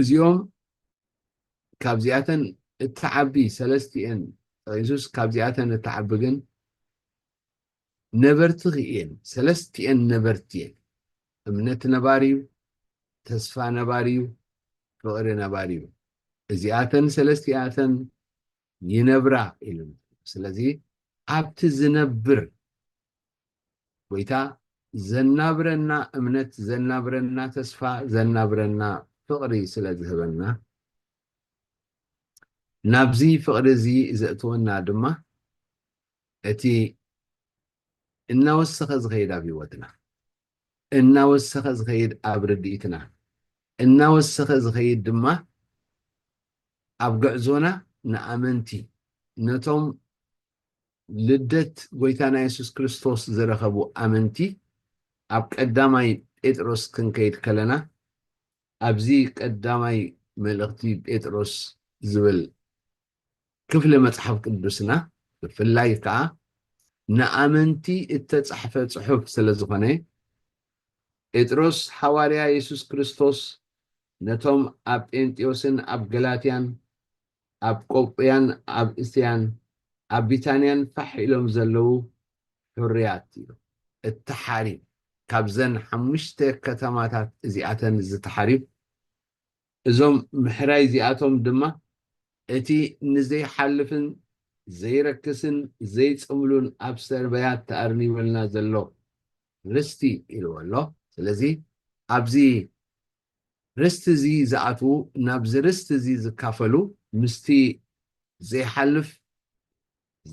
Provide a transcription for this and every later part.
እዚኦም ካብዚኣተን እትዓቢ ሰለስቲኤን ጠቂሱስ ካብዚኣተን እትዓቢ ግን ነበርቲ እየን ሰለስቲኤን ነበርቲ እየን እምነት ነባሪ እዩ ተስፋ ነባሪ እዩ ፍቅሪ ነባሪ እዩ እዚኣተን ሰለስቲኣተን ይነብራ ኢሉ ስለዚ ኣብቲ ዝነብር ጎይታ ዘናብረና እምነት ዘናብረና ተስፋ ዘናብረና ፍቕሪ ስለ ዝህበና ናብዚ ፍቕሪ እዚ ዘእትወና ድማ እቲ እናወሰኸ ዝኸይድ ኣብ ህይወትና እናወሰኸ ዝኸይድ ኣብ ርድኢትና እናወሰኸ ዝኸይድ ድማ ኣብ ግዕዞና ንኣመንቲ ነቶም ልደት ጐይታና የሱስ ክርስቶስ ዝረኸቡ ኣመንቲ ኣብ ቀዳማይ ጴጥሮስ ክንከይድ ከለና ኣብዚ ቀዳማይ መልእኽቲ ጴጥሮስ ዝብል ክፍሊ መጽሓፍ ቅዱስና ብፍላይ ከኣ ንኣመንቲ እተጻሕፈ ጽሑፍ ስለ ዝኾነ ጴጥሮስ ሓዋርያ የሱስ ክርስቶስ ነቶም ኣብ ጴንጥዮስን ኣብ ገላትያን ኣብ ቆጵያን ኣብ እስያን ኣብ ቢታንያን ፋሕ ኢሎም ዘለዉ ሕሩያት እዮም። እቲ ተሓሪም ካብዘን ሓሙሽተ ከተማታት እዚኣተን እዚ ተሓሪም እዞም ምሕራይ እዚኣቶም ድማ እቲ ንዘይሓልፍን ዘይረክስን ዘይጽምሉን ኣብ ሰርበያ ተኣርኒቡልና ዘሎ ርስቲ ኢልዎ ኣሎ። ስለዚ ኣብዚ ርስቲ'ዚ ዝኣትዉ ናብዚ ርስቲ'ዚ ዝካፈሉ ምስቲ ዘይሓልፍ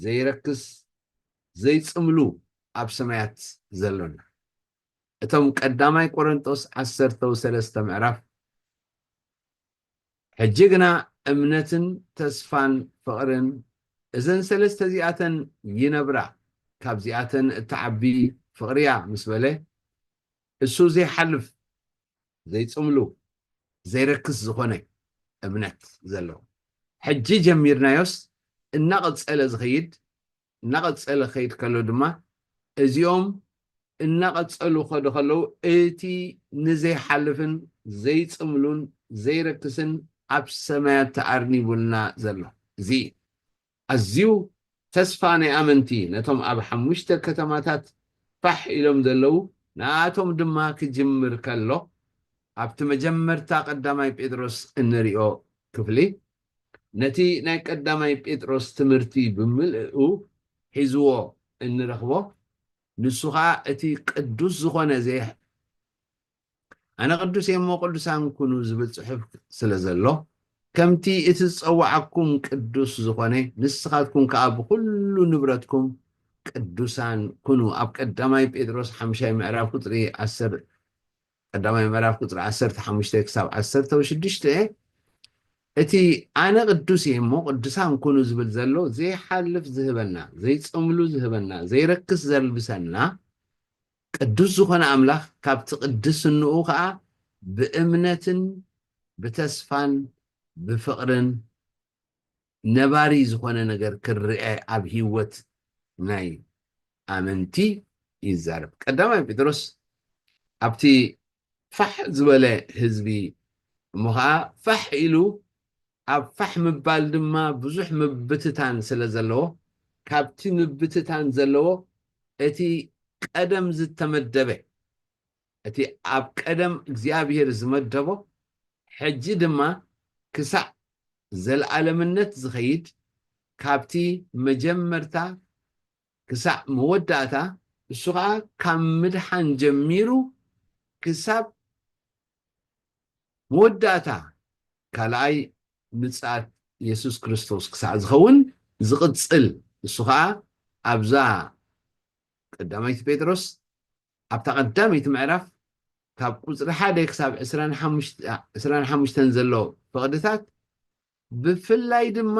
ዘይረክስ ዘይጽምሉ ኣብ ሰማያት ዘሎና እቶም ቀዳማይ ቆረንጦስ ዓሰርተው ሰለስተ ምዕራፍ ሕጂ ግና እምነትን ተስፋን ፍቕርን እዘን ሰለስተ እዚኣተን ይነብራ ካብዚኣተን እትዓቢ ፍቕሪ'ያ ምስ በለ እሱ ዘይሓልፍ ዘይጽምሉ ዘይረክስ ዝኾነ እምነት ዘለዎ ሕጂ ጀሚርናዮስ እናቐጸለ ዝኸይድ እናቐጸለ ክኸይድ ከሎ ድማ እዚኦም እናቐጸሉ ከዶ ከለዉ እቲ ንዘይሓልፍን ዘይጽምሉን ዘይረክስን ኣብ ሰማያት ተኣርኒቡልና ዘሎ እዚ ኣዝዩ ተስፋ ናይ ኣመንቲ ነቶም ኣብ ሓሙሽተ ከተማታት ፋሕ ኢሎም ዘለዉ ንኣኣቶም ድማ ክጅምር ከሎ ኣብቲ መጀመርታ ቀዳማይ ጴጥሮስ እንሪኦ ክፍሊ ነቲ ናይ ቀዳማይ ጴጥሮስ ትምህርቲ ብምልእኡ ሒዝዎ እንረኽቦ ንሱ ኸኣ እቲ ቅዱስ ዝኾነ ኣነ ቅዱስ እየ እሞ ቅዱሳን ኩኑ ዝብል ጽሑፍ ስለ ዘሎ፣ ከምቲ እቲ ዝጸውዓኩም ቅዱስ ዝኾነ፣ ንስኻትኩም ከኣ ብኹሉ ንብረትኩም ቅዱሳን ኩኑ ኣብ ቀዳማይ ጴጥሮስ ሓምሻይ ምዕራፍ ቁጽሪ ዓሰር ቀዳማይ ምዕራፍ ቁጽሪ ዓሰርተ ሓሙሽተ ክሳብ ዓሰርተ ወሽዱሽተ እቲ ኣነ ቅዱስ እየ እሞ ቅዱሳን ኩኑ ዝብል ዘሎ ዘይሓልፍ ዝህበና ዘይጸምሉ ዝህበና ዘይረክስ ዘልብሰና ቅዱስ ዝኾነ ኣምላኽ ካብቲ ቅድስንኡ ከኣ ብእምነትን ብተስፋን ብፍቕርን ነባሪ ዝኾነ ነገር ክርኣ ኣብ ህይወት ናይ ኣመንቲ ይዛረብ። ቀዳማይ ጴጥሮስ ኣብቲ ፋሕ ዝበለ ህዝቢ እሞ ኸኣ ፋሕ ኢሉ ኣብ ፋሕ ምባል ድማ ብዙሕ ምብትታን ስለ ዘለዎ፣ ካብቲ ምብትታን ዘለዎ እቲ ቀደም ዝተመደበ፣ እቲ ኣብ ቀደም እግዚኣብሄር ዝመደቦ፣ ሕጂ ድማ ክሳዕ ዘለኣለምነት ዝኸይድ፣ ካብቲ መጀመርታ ክሳዕ መወዳእታ እሱ ኸኣ ካብ ምድሓን ጀሚሩ ክሳብ መወዳእታ ካልኣይ ምጽኣት የሱስ ክርስቶስ ክሳዕ ዝኸውን ዝቕጽል እሱ ኸኣ ኣብዛ ቀዳማይቲ ጴጥሮስ ኣብታ ቀዳመይቲ ምዕራፍ ካብ ቁጽሪ ሓደ ክሳብ ዕስራን ሓሙሽተን ዘሎ ፍቕድታት ብፍላይ ድማ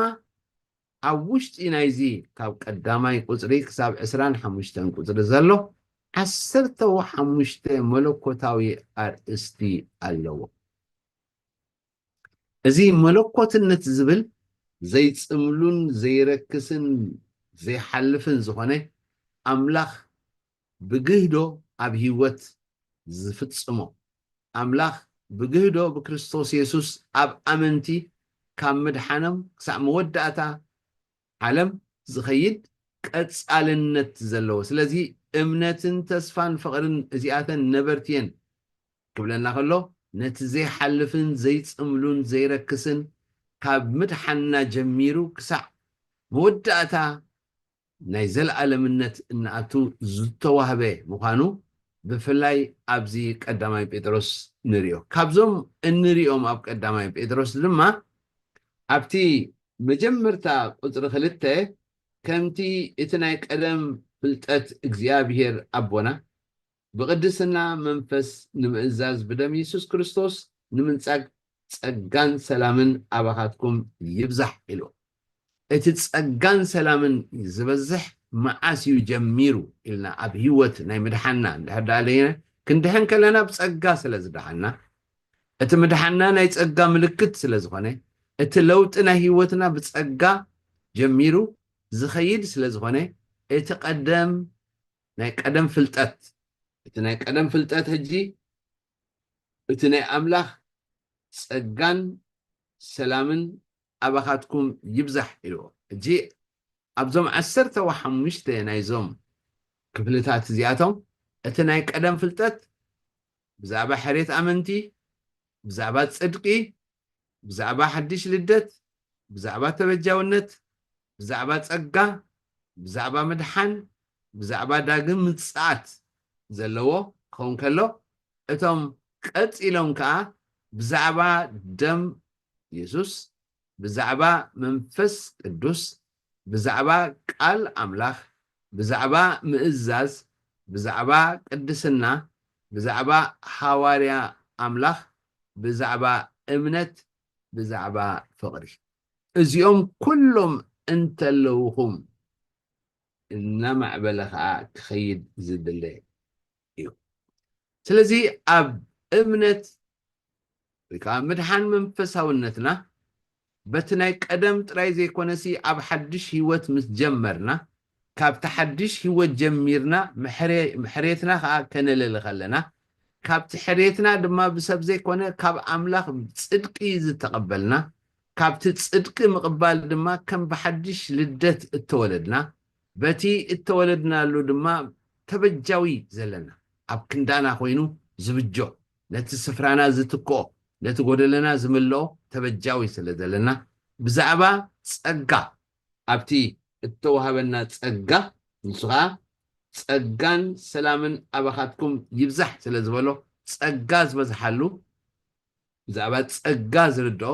ኣብ ውሽጢ ናይዚ ካብ ቀዳማይ ቁጽሪ ክሳብ ዕስራን ሓሙሽተን ቁጽሪ ዘሎ ዓሰርተ ሓሙሽተ መለኮታዊ ኣርእስቲ ኣለዎ። እዚ መለኮትነት ዝብል ዘይጽምሉን ዘይረክስን ዘይሓልፍን ዝኾነ ኣምላኽ ብግህዶ ኣብ ህይወት ዝፍጽሞ፣ ኣምላኽ ብግህዶ ብክርስቶስ የሱስ ኣብ ኣመንቲ ካብ ምድሓኖም ክሳዕ መወዳእታ ዓለም ዝኸይድ ቀጻልነት ዘለዎ ስለዚ እምነትን ተስፋን ፍቕርን እዚኣተን ነበርቲ እየን ክብለና ከሎ ነቲ ዘይሓልፍን ዘይጽምሉን ዘይረክስን ካብ ምድሓንና ጀሚሩ ክሳዕ መወዳእታ ናይ ዘለኣለምነት እንኣቱ ዝተዋህበ ምዃኑ ብፍላይ ኣብዚ ቀዳማይ ጴጥሮስ ንርዮ። ካብዞም እንርዮም ኣብ ቀዳማይ ጴጥሮስ ድማ ኣብቲ መጀመርታ ቁጽሪ ክልተ ከምቲ እቲ ናይ ቀደም ፍልጠት እግዚኣብሔር ኣቦና ብቅድስና መንፈስ ንምእዛዝ ብደም የሱስ ክርስቶስ ንምንጻግ ጸጋን ሰላምን ኣባኻትኩም ይብዛሕ ኢሉ። እቲ ጸጋን ሰላምን ዝበዝሕ መዓስ እዩ ጀሚሩ ኢልና ኣብ ህይወት ናይ ምድሓንና እንድሕር ደኣ ለይነ ክንድሕን ከለና ብጸጋ ስለ ዝደሓንና እቲ ምድሓንና ናይ ጸጋ ምልክት ስለ ዝኾነ እቲ ለውጢ ናይ ህይወትና ብጸጋ ጀሚሩ ዝኸይድ ስለ ዝኾነ እቲ ቀደም ናይ ቀደም ፍልጠት እቲ ናይ ቀደም ፍልጠት ሕጂ እቲ ናይ ኣምላኽ ጸጋን ሰላምን ኣባኻትኩም ይብዛሕ ኢልዎ። ሕጂ ኣብዞም ዓሰርተ ወሓሙሽተ ናይዞም ክፍልታት እዚኣቶም እቲ ናይ ቀደም ፍልጠት ብዛዕባ ሕርየት ኣመንቲ፣ ብዛዕባ ጽድቂ፣ ብዛዕባ ሓድሽ ልደት፣ ብዛዕባ ተበጃውነት፣ ብዛዕባ ጸጋ፣ ብዛዕባ ምድሓን፣ ብዛዕባ ዳግም ምጽኣት ዘለዎ ክኸውን ከሎ፣ እቶም ቀጺሎም ከኣ ብዛዕባ ደም የሱስ፣ ብዛዕባ መንፈስ ቅዱስ፣ ብዛዕባ ቃል ኣምላኽ፣ ብዛዕባ ምእዛዝ፣ ብዛዕባ ቅድስና፣ ብዛዕባ ሃዋርያ ኣምላኽ፣ ብዛዕባ እምነት፣ ብዛዕባ ፍቕሪ። እዚኦም ኩሎም እንተለውኹም እናማዕበለ ኸኣ ክኸይድ ዝድለ እዩ። ስለዚ ኣብ እምነት ወይ ከኣ ምድሓን መንፈሳውነትና በቲ ናይ ቀደም ጥራይ ዘይኮነሲ ኣብ ሓድሽ ህይወት ምስ ጀመርና ካብቲ ሓድሽ ህይወት ጀሚርና ሕርየትና ኸኣ ከነለሊ ኸለና፣ ካብቲ ሕርየትና ድማ ብሰብ ዘይኮነ ካብ ኣምላኽ ጽድቂ ዝተቐበልና፣ ካብቲ ጽድቂ ምቕባል ድማ ከም ብሓድሽ ልደት እተወለድና፣ በቲ እተወለድናሉ ድማ ተበጃዊ ዘለና፣ ኣብ ክንዳና ኮይኑ ዝብጆ፣ ነቲ ስፍራና ዝትክኦ፣ ነቲ ጎደለና ዝምልኦ ተበጃዊ ስለ ዘለና፣ ብዛዕባ ጸጋ ኣብቲ እተዋህበና ጸጋ፣ ንሱ ኸኣ ጸጋን ሰላምን ኣባኻትኩም ይብዛሕ ስለ ዝበሎ፣ ጸጋ ዝበዝሓሉ፣ ብዛዕባ ጸጋ ዝርድኦ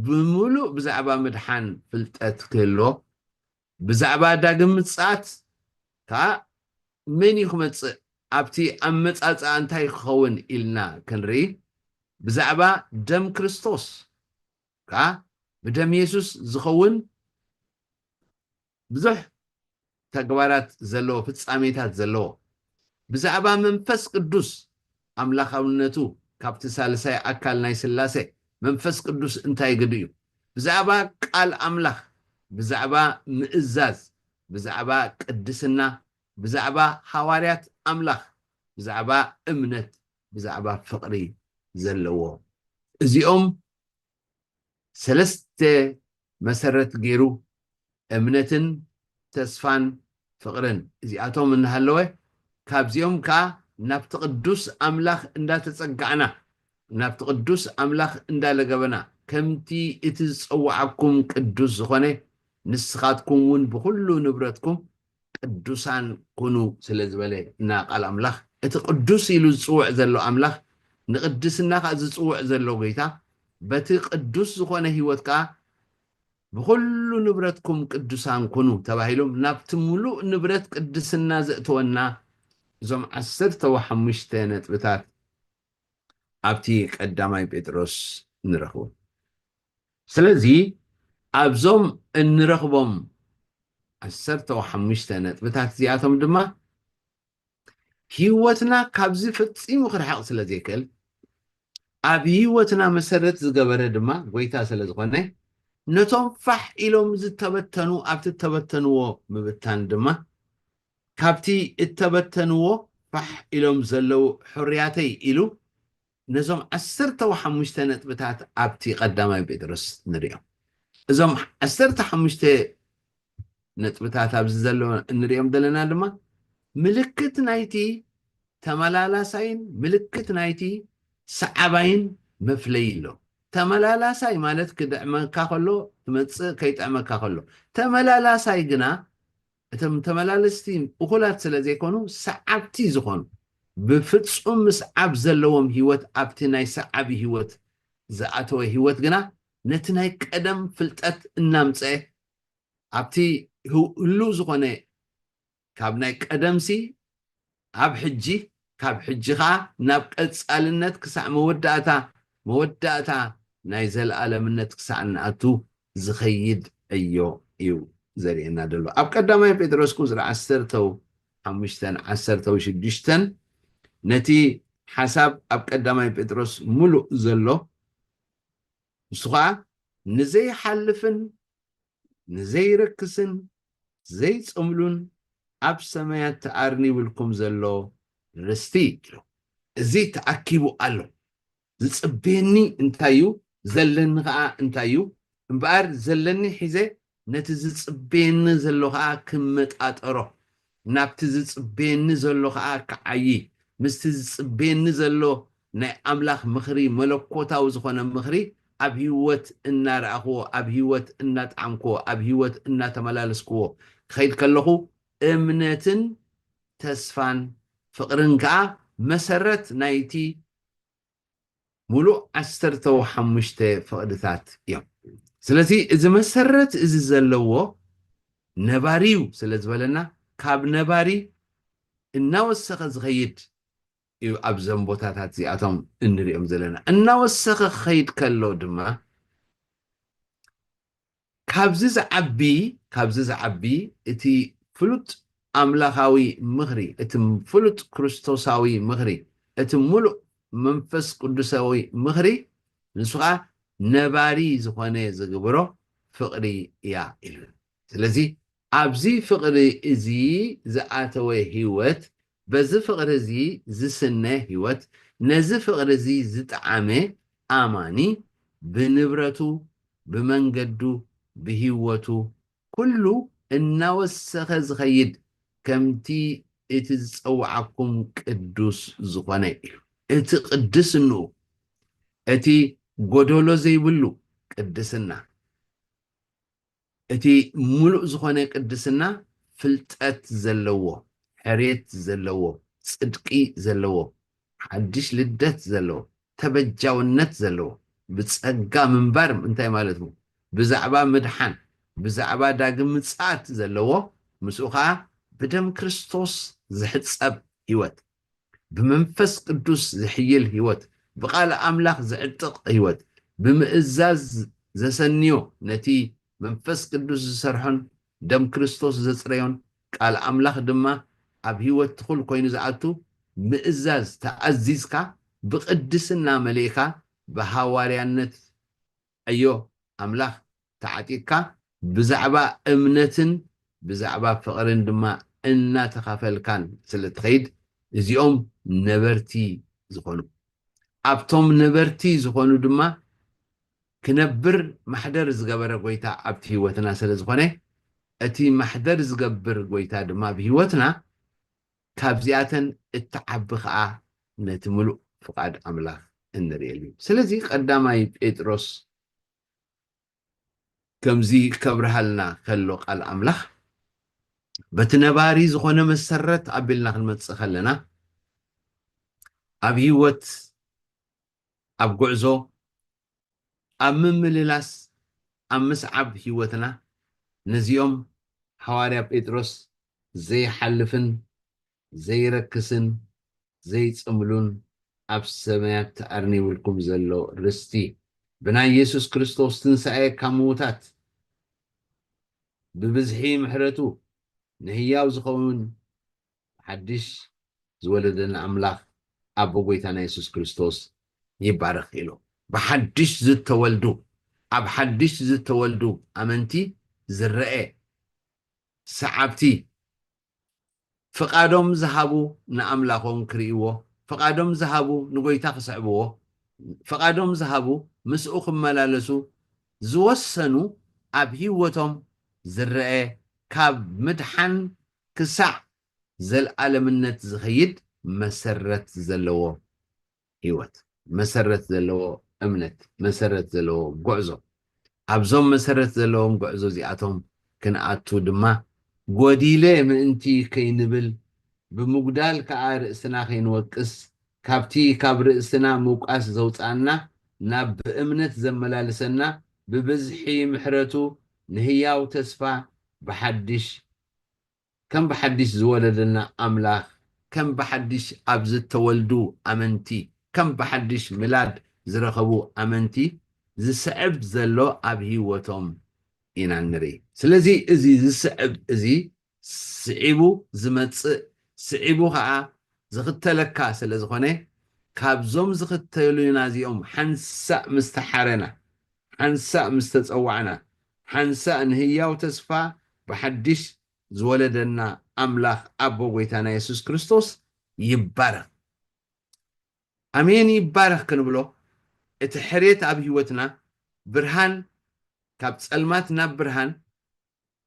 ብምሉእ ብዛዕባ ምድሓን ፍልጠት ክህልዎ፣ ብዛዕባ ዳግም ምጽኣት ከኣ መን እዩ ክመጽእ፣ ኣብቲ ኣመጻጽኣ እንታይ ክኸውን ኢልና ክንርኢ፣ ብዛዕባ ደም ክርስቶስ ከኣ ብደም የሱስ ዝኸውን ብዙሕ ተግባራት ዘለዎ ፍጻሜታት ዘለዎ ብዛዕባ መንፈስ ቅዱስ ኣምላኻውነቱ ካብቲ ሳልሳይ ኣካል ናይ ስላሴ መንፈስ ቅዱስ እንታይ ግዱ እዩ ብዛዕባ ቃል ኣምላኽ ብዛዕባ ምእዛዝ ብዛዕባ ቅድስና ብዛዕባ ሃዋርያት ኣምላኽ ብዛዕባ እምነት ብዛዕባ ፍቕሪ ዘለዎ እዚኦም ሰለስተ መሰረት ገይሩ እምነትን ተስፋን ፍቕርን እዚኣቶም እናሃለወ ካብዚኦም ከኣ ናብቲ ቅዱስ ኣምላኽ እንዳተጸጋዕና ናብቲ ቅዱስ ኣምላኽ እንዳለገበና ከምቲ እቲ ዝጸውዓኩም ቅዱስ ዝኾነ ንስኻትኩም እውን ብኹሉ ንብረትኩም ቅዱሳን ኩኑ ስለ ዝበለ እና ቃል ኣምላኽ እቲ ቅዱስ ኢሉ ዝጽውዕ ዘሎ ኣምላኽ ንቅድስና ከኣ ዝጽውዕ ዘሎ ጎይታ በቲ ቅዱስ ዝኾነ ሕይወት ከኣ ብኹሉ ንብረትኩም ቅዱሳን ኩኑ ተባሂሎም ናብቲ ምሉእ ንብረት ቅድስና ዘእተወና እዞም ዓሰርተ ወሓሙሽተ ነጥብታት ኣብቲ ቀዳማይ ጴጥሮስ ንረኽቦም። ስለዚ ኣብዞም እንረኽቦም ዓሰርተው ሓሙሽተ ነጥብታት እዚኣቶም ድማ ህይወትና ካብዚ ፈጺሙ ክርሕቕ ስለ ዘይክእል ኣብ ህይወትና መሰረት ዝገበረ ድማ ጎይታ ስለ ዝኾነ ነቶም ፋሕ ኢሎም ዝተበተኑ ኣብቲ እተበተንዎ ምብታን ድማ ካብቲ እተበተንዎ ፋሕ ኢሎም ዘለዉ ሕርያተይ ኢሉ ነዞም ዓሰርተ ሓሙሽተ ነጥብታት ኣብቲ ቀዳማይ ጴጥሮስ ንርእዮም። እዞም ዓሰርተ ሓሙሽተ ነጥብታት ኣብዚ ዘሎ እንርእዮም ዘለና ድማ ምልክት ናይቲ ተመላላሳይን ምልክት ናይቲ ሰዓባይን መፍለይ ኣሎ። ተመላላሳይ ማለት ክድዕመካ ከሎ ትመጽእ ከይጥዕመካ ከሎ ተመላላሳይ ግና እቶም ተመላለስቲ እኹላት ስለ ዘይኮኑ ሰዓብቲ ዝኾኑ ብፍጹም ምስዓብ ዘለዎም ህይወት ኣብቲ ናይ ሰዓቢ ህይወት ዝኣተወ ህይወት ግና ነቲ ናይ ቀደም ፍልጠት እናምጸኤ ኣብቲ ህሉው ዝኾነ ካብ ናይ ቀደምሲ ኣብ ሕጂ፣ ካብ ሕጂ ከኣ ናብ ቀጻልነት ክሳዕ መወዳእታ፣ መወዳእታ ናይ ዘለኣለምነት ክሳዕ እንኣቱ ዝኸይድ ዕዮ እዩ ዘርእየና ዘሎ። ኣብ ቀዳማይ ጴጥሮስ ቁጽሪ ዓሰርተው ሓሙሽተን ዓሰርተው ሽዱሽተን ነቲ ሓሳብ ኣብ ቀዳማይ ጴጥሮስ ምሉእ ዘሎ ንሱ ከኣ ንዘይሓልፍን ንዘይረክስን ዘይጸምሉን ኣብ ሰማያት ተኣርኒብልኩም ዘሎ ርስቲ ኢሉ። እዚ ተኣኪቡ ኣሎ፣ ዝጽበየኒ እንታይ እዩ፣ ዘለኒ ኸኣ እንታይ እዩ፣ እምበኣር ዘለኒ ሒዘ ነቲ ዝጽበየኒ ዘሎ ኸኣ ክመጣጠሮ፣ ናብቲ ዝጽበየኒ ዘሎ ከኣ ክዓዪ፣ ምስቲ ዝጽበየኒ ዘሎ ናይ ኣምላኽ ምኽሪ፣ መለኮታዊ ዝኾነ ምኽሪ ኣብ ህይወት እናረኣኹዎ፣ ኣብ ህይወት እናጠዓምኩዎ፣ ኣብ ህይወት እናተመላለስኩዎ ክኸይድ ከለኹ፣ እምነትን ተስፋን ፍቕርን ከኣ መሰረት ናይቲ ምሉእ ዓሰርተው ሓሙሽተ ፍቕድታት እዮም። ስለዚ እዚ መሰረት እዚ ዘለዎ ነባሪ እዩ ስለ ዝበለና ካብ ነባሪ እናወሰኸ ዝኸይድ እዩ ኣብዘም ቦታታት እዚኣቶም እንሪኦም ዘለና። እናወሰኸ ክኸይድ ከሎ ድማ ካብዚ ዝዓቢ ካብዚ ዝዓቢ እቲ ፍሉጥ ኣምላኻዊ ምኽሪ እቲ ፍሉጥ ክርስቶሳዊ ምኽሪ እቲ ምሉእ መንፈስ ቅዱሳዊ ምኽሪ ንሱ ከኣ ነባሪ ዝኾነ ዝግብሮ ፍቕሪ እያ ኢሉና ስለዚ ኣብዚ ፍቕሪ እዚ ዝኣተወ ህይወት፣ በዚ ፍቕሪ እዚ ዝስነ ህይወት፣ ነዚ ፍቕሪ እዚ ዝጠዓመ ኣማኒ፣ ብንብረቱ፣ ብመንገዱ፣ ብህይወቱ፣ ኩሉ እናወሰኸ ዝኸይድ፣ ከምቲ እቲ ዝጸውዓኩም ቅዱስ ዝኾነ እዩ። እቲ ቅድስንኡ፣ እቲ ጎደሎ ዘይብሉ ቅድስና። እቲ ምሉእ ዝኾነ ቅድስና ፍልጠት ዘለዎ፣ ሕርየት ዘለዎ፣ ጽድቂ ዘለዎ፣ ሓድሽ ልደት ዘለዎ፣ ተበጃውነት ዘለዎ፣ ብጸጋ ምንባር እንታይ ማለት ምው ብዛዕባ ምድሓን ብዛዕባ ዳግም ምጽኣት ዘለዎ ምስኡ ከኣ ብደም ክርስቶስ ዝሕጸብ ሕይወት ብመንፈስ ቅዱስ ዝሕይል ሕይወት፣ ብቃል ኣምላኽ ዝዕጥቕ ሕይወት፣ ብምእዛዝ ዘሰንዮ ነቲ መንፈስ ቅዱስ ዝሰርሖን ደም ክርስቶስ ዘጽረዮን ቃል ኣምላኽ ድማ ኣብ ሕይወት ትኹል ኮይኑ ዝኣቱ ምእዛዝ ተኣዚዝካ ብቅድስና መሊእካ ብሃዋርያነት ዕዮ ኣምላኽ ተዓጢቕካ ብዛዕባ እምነትን ብዛዕባ ፍቕርን ድማ እናተኻፈልካን ስለ እትኸይድ እዚኦም ነበርቲ ዝዀኑ ኣብቶም ነበርቲ ዝዀኑ ድማ ክነብር ማሕደር ዝገበረ ጐይታ ኣብቲ ህይወትና ስለ ዝዀነ እቲ ማሕደር ዝገብር ጐይታ ድማ ብህይወትና ካብዚኣተን እትዓቢ ከኣ ነቲ ምሉእ ፍቓድ ኣምላኽ እንርእየሉ እዩ። ስለዚ ቀዳማይ ጴጥሮስ ከምዚ ከብርሃልና ከሎ ቃል ኣምላኽ በቲ ነባሪ ዝኾነ መሰረት ኣቢልና ክንመጽእ ከለና ኣብ ህይወት ኣብ ጉዕዞ ኣብ ምምልላስ ኣብ ምስዓብ ህይወትና ነዚኦም ሃዋርያ ጴጥሮስ ዘይሓልፍን ዘይረክስን ዘይጽምሉን ኣብ ሰማያት ተኣርኒቡልኩም ዘሎ ርስቲ ብናይ የሱስ ክርስቶስ ትንሳኤ ካብ ምዉታት ብብዝሒ ምሕረቱ ንህያው ዝኸውን ሓድሽ ዝወለደና ኣምላኽ ኣቦ ጐይታና የሱስ ክርስቶስ ይባረኽ ኢሎም። ብሓድሽ ዝተወልዱ፣ ኣብ ሓድሽ ዝተወልዱ ኣመንቲ ዝረኤ፣ ሰዓብቲ፣ ፍቓዶም ዝሃቡ ንኣምላኾም ክርእይዎ፣ ፍቓዶም ዝሃቡ ንጐይታ ክስዕብዎ፣ ፍቓዶም ዝሃቡ ምስኡ ክመላለሱ ዝወሰኑ ኣብ ህይወቶም ዝረኤ ካብ ምድሓን ክሳዕ ዘልኣለምነት ዚኸይድ መሰረት ዘለዎ ህይወት፣ መሰረት ዘለዎ እምነት፣ መሰረት ዘለዎ ጕዕዞ። ኣብዞም መሰረት ዘለዎም ጕዕዞ እዚኣቶም ክንኣቱ ድማ፣ ጐዲለ ምእንቲ ኸይንብል፣ ብምጕዳል ከኣ ርእስና ኸይንወቅስ፣ ካብቲ ኻብ ርእስና ምውቃስ ዘውጽኣና፣ ናብ ብእምነት ዘመላልሰና ብብዝሒ ምሕረቱ ንህያው ተስፋ ብሓድሽ ከም ብሓዲሽ ዝወለደና ኣምላኽ፣ ከም ብሓዲሽ ኣብ ዝተወልዱ ኣመንቲ፣ ከም ብሓዲሽ ምላድ ዝረኸቡ ኣመንቲ ዝስዕብ ዘሎ ኣብ ህይወቶም ኢና እንርኢ። ስለዚ እዚ ዝስዕብ እዚ ስዒቡ ዝመጽእ ስዒቡ ከኣ ዝኽተለካ ስለ ዝኾነ ካብዞም ዝኽተሉና እዚኦም ሓንሳእ ምስ ተሓረና፣ ሓንሳእ ምስ ተጸዋዕና፣ ሓንሳእ ንህያው ተስፋ ብሓድሽ ዝወለደና ኣምላኽ ኣቦ ጐይታና የሱስ ክርስቶስ ይባረኽ ኣሜን ይባረኽ ክንብሎ እቲ ሕርየት ኣብ ህይወትና ብርሃን ካብ ጸልማት ናብ ብርሃን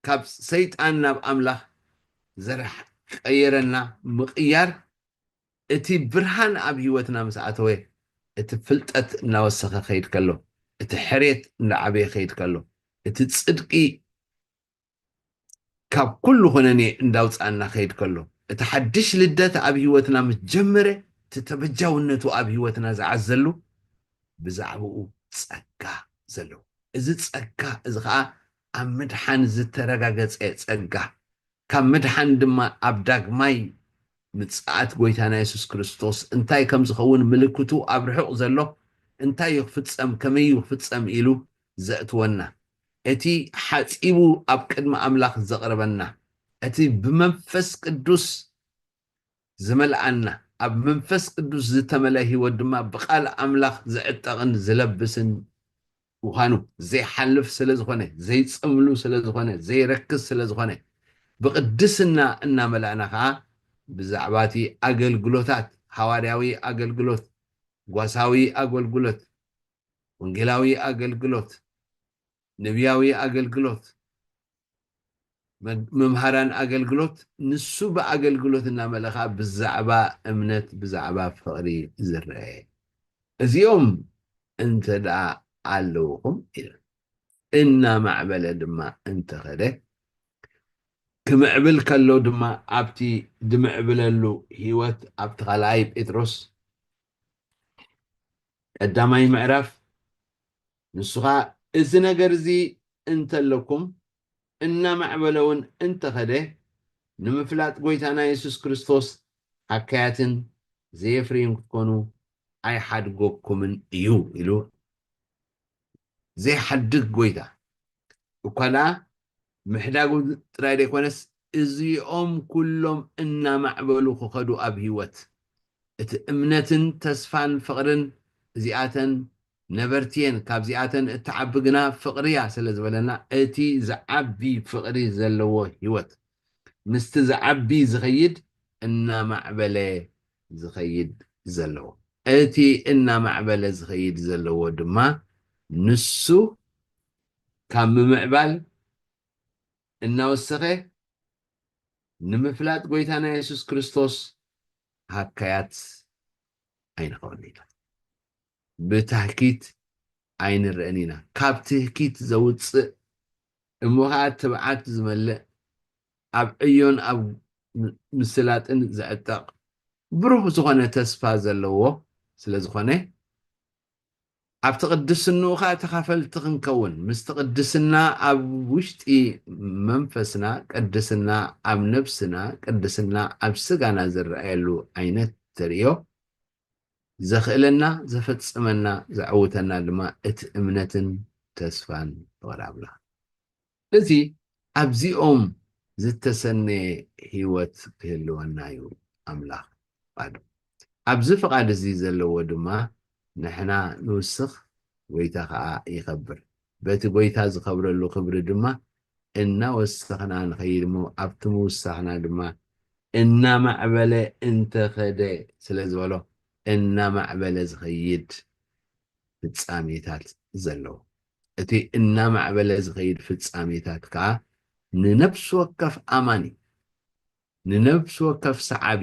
ካብ ሰይጣን ናብ ኣምላኽ ዘርሕ ቀየረና ምቕያር እቲ ብርሃን ኣብ ህይወትና ምስ ኣተወ፣ እቲ ፍልጠት እናወሰኸ ክኸይድ ከሎ፣ እቲ ሕርየት እንዳዓበየ ክኸይድ ከሎ፣ እቲ ጽድቂ ካብ ኩሉ ኩነኔ እንዳውጽኣና ክኸይድ ከሎ፣ እቲ ሓድሽ ልደት ኣብ ህይወትና ምስ ጀመረ፣ እቲ ተበጃውነቱ ኣብ ህይወትና ዝዓዘሉ ብዛዕባኡ ጸጋ ዘለዎ እዚ ጸጋ እዚ ከኣ ኣብ ምድሓን ዝተረጋገጸ ጸጋ ካብ ምድሓን ድማ ኣብ ዳግማይ ምጽኣት ጐይታና የሱስ ክርስቶስ እንታይ ከም ዝኸውን ምልክቱ ኣብ ርሑቕ ዘሎ እንታይ እዩ ክፍጸም ከመይ እዩ ክፍጸም ኢሉ ዘእትወና እቲ ሓጺቡ ኣብ ቅድሚ ኣምላኽ ዘቕርበና እቲ ብመንፈስ ቅዱስ ዝመልኣና፣ ኣብ መንፈስ ቅዱስ ዝተመልኣ ህይወት ድማ ብቃል ኣምላኽ ዝዕጠቕን ዝለብስን ምዃኑ፣ ዘይሓልፍ ስለ ዝኾነ፣ ዘይጸምሉ ስለ ዝኾነ፣ ዘይረክስ ስለ ዝኾነ፣ ብቕድስና እናመላእና ከኣ ብዛዕባ እቲ ኣገልግሎታት፣ ሓዋርያዊ ኣገልግሎት፣ ጓሳዊ ኣገልግሎት፣ ወንጌላዊ ኣገልግሎት፣ ነብያዊ ኣገልግሎት፣ መምሃራን ኣገልግሎት፣ ንሱ ብኣገልግሎት እናመለኻ ብዛዕባ እምነት ብዛዕባ ፍቕሪ ዝረኤ እዚኦም እንተድኣ ኣለውኹም ኢለ እናማዕበለ ድማ እንተኸደ ክምዕብል ከሎ ድማ ኣብቲ ድምዕብለሉ ህይወት ኣብቲ ካልኣይ ጴጥሮስ ቀዳማይ ምዕራፍ ንሱኻ እዚ ነገር እዚ እንተለኩም እናማዕበለ ውን እንተኸደ ንምፍላጥ ጎይታና የሱስ ክርስቶስ ሃካያትን ዘየፍርይን ክትኮኑ ኣይሓድጎኩምን እዩ ኢሉ ዘይሓድግ ጎይታ እኳ ደኣ ምሕዳጉ ጥራይ ዘይኮነስ እዚኦም ኩሎም እናማዕበሉ ክኸዱ ኣብ ህይወት እቲ እምነትን ተስፋን ፍቕርን እዚኣተን ነበርቲ እየን ካብዚኣተን እትዓቢ ግና ፍቕሪ እያ ስለ ዝበለና እቲ ዝዓቢ ፍቕሪ ዘለዎ ህይወት ምስቲ ዝዓቢ ዝኸይድ እናማዕበለ ዝኸይድ ዘለዎ። እቲ እናማዕበለ ዝኸይድ ዘለዎ ድማ ንሱ ካብ ምምዕባል እናወሰኸ ንምፍላጥ ጎይታና የሱስ ክርስቶስ ሃካያት ኣይንኸውን ኢና። ብታህኪት ኣይንረእን ኢና። ካብ ትህኪት ዘውጽእ እሞ ኸኣ ትብዓት ዝመልእ ኣብ ዕዮን ኣብ ምስላጥን ዝዕጠቕ ብሩህ ዝኾነ ተስፋ ዘለዎ ስለ ዝኾነ፣ ኣብቲ ቅድስንኡ ኸኣ ተኻፈልቲ ክንከውን፣ ምስቲ ቅድስና ኣብ ውሽጢ መንፈስና፣ ቅድስና ኣብ ነብስና፣ ቅድስና ኣብ ስጋና ዝረኣየሉ ዓይነት ተርእዮ ዘኽእለና፣ ዘፈጽመና፣ ዘዕውተና ድማ እቲ እምነትን ተስፋን ፍቕሪ ኣምላኽ። ስለዚ ኣብዚኦም ዝተሰነየ ህይወት ክህልወና እዩ ኣምላኽ ፍቓዱ። ኣብዚ ፍቓድ እዚ ዘለዎ ድማ ንሕና ንውስኽ፣ ጐይታ ኸኣ ይኸብር። በቲ ጐይታ ዝኸብረሉ ክብሪ ድማ እናወሰኽና ንኸይድ እሞ ኣብቲ ምውሳኽና ድማ እናማዕበለ እንተ ኸደ ስለ ዝበሎ እናማዕበለ ዝኸይድ ፍጻሜታት ዘለዎ እቲ እናማዕበለ ዝኸይድ ፍጻሜታት ከኣ ንነፍሲ ወከፍ ኣማኒ፣ ንነፍሲ ወከፍ ሰዓቢ፣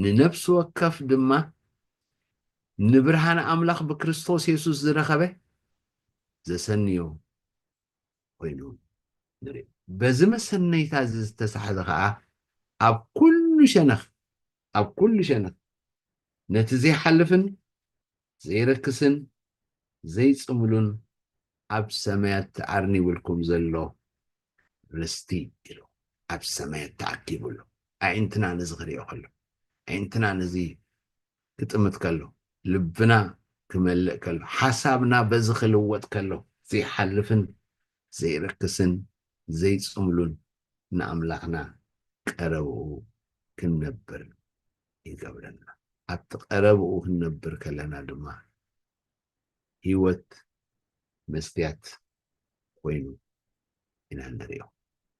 ንነፍሲ ወከፍ ድማ ንብርሃን ኣምላኽ ብክርስቶስ የሱስ ዝረኸበ ዘሰንዮ ኮይኑ ንርኢ። በዚ መሰነይታ እዚ ዝተሳሕዘ ከኣ ኣብ ኩሉ ሸነኽ ኣብ ኩሉ ሸነኽ ነቲ ዘይሓልፍን ዘይረክስን ዘይጽምሉን ኣብ ሰማያት ተኣርኒቡልኩም ዘሎ ርስቲ ኢሉ ኣብ ሰማያት ተኣኪቡ ኣሎ። ኣዒንትና ነዚ ክርእዮ ከሎ፣ ኣዒንትና ነዚ ክጥምት ከሎ፣ ልብና ክመልእ ከሎ፣ ሓሳብና በዚ ክልወጥ ከሎ ዘይሓልፍን ዘይረክስን ዘይጽምሉን ንኣምላኽና ቀረብኡ ክንነብር ይገብረና ኣብቲ ቀረብኡ ክንነብር ከለና ድማ ህይወት መስትያት ኮይኑ ኢና ንሪኦ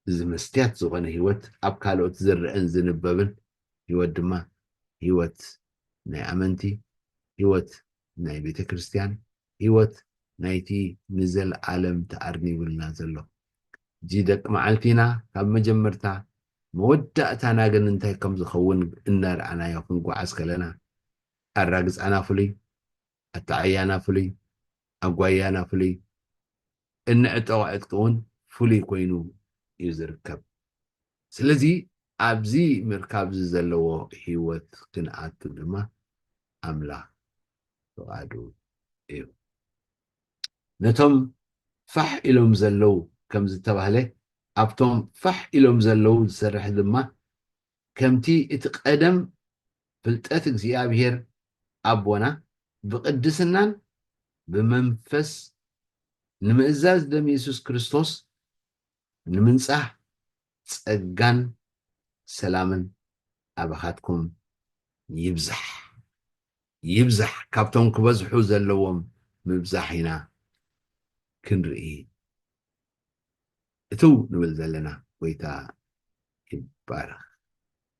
እዚ መስትያት ዝኾነ ህይወት ኣብ ካልኦት ዝረአን ዝንበብን ህይወት ድማ ህይወት ናይ ኣመንቲ ህይወት ናይ ቤተ ክርስቲያን ሕይወት ናይቲ ንዘለዓለም ተኣርኒቡልና ዘሎ እዚ ደቂ መዓልቲና ካብ መጀመርታ መወዳእታና ግን እንታይ ከም ዝኸውን እናርኣናዮ ክንጓዓዝ ከለና ኣራግጻና ፍሉይ፣ ኣተዓያና ፍሉይ፣ ኣጓያና ፍሉይ፣ እንዕጠቑ ዕጥቂ እውን ፍሉይ ኮይኑ እዩ ዝርከብ። ስለዚ ኣብዚ ምርካብዚ ዘለዎ ህይወት ክንኣቱ ድማ ኣምላኽ ፍቓዱ እዩ። ነቶም ፋሕ ኢሎም ዘለዉ ከም ዝተባህለ ኣብቶም ፋሕ ኢሎም ዘለዉ ዝሰርሕ ድማ ከምቲ እቲ ቀደም ፍልጠት እግዚኣብሄር ኣቦና ብቅድስናን ብመንፈስ ንምእዛዝ ደም የሱስ ክርስቶስ ንምንጻህ ጸጋን ሰላምን ኣባኻትኩም ይብዛሕ ይብዛሕ ካብቶም ክበዝሑ ዘለዎም ምብዛሕ ኢና ክንርኢ እትው ንብል ዘለና ጎይታ ይባረኽ።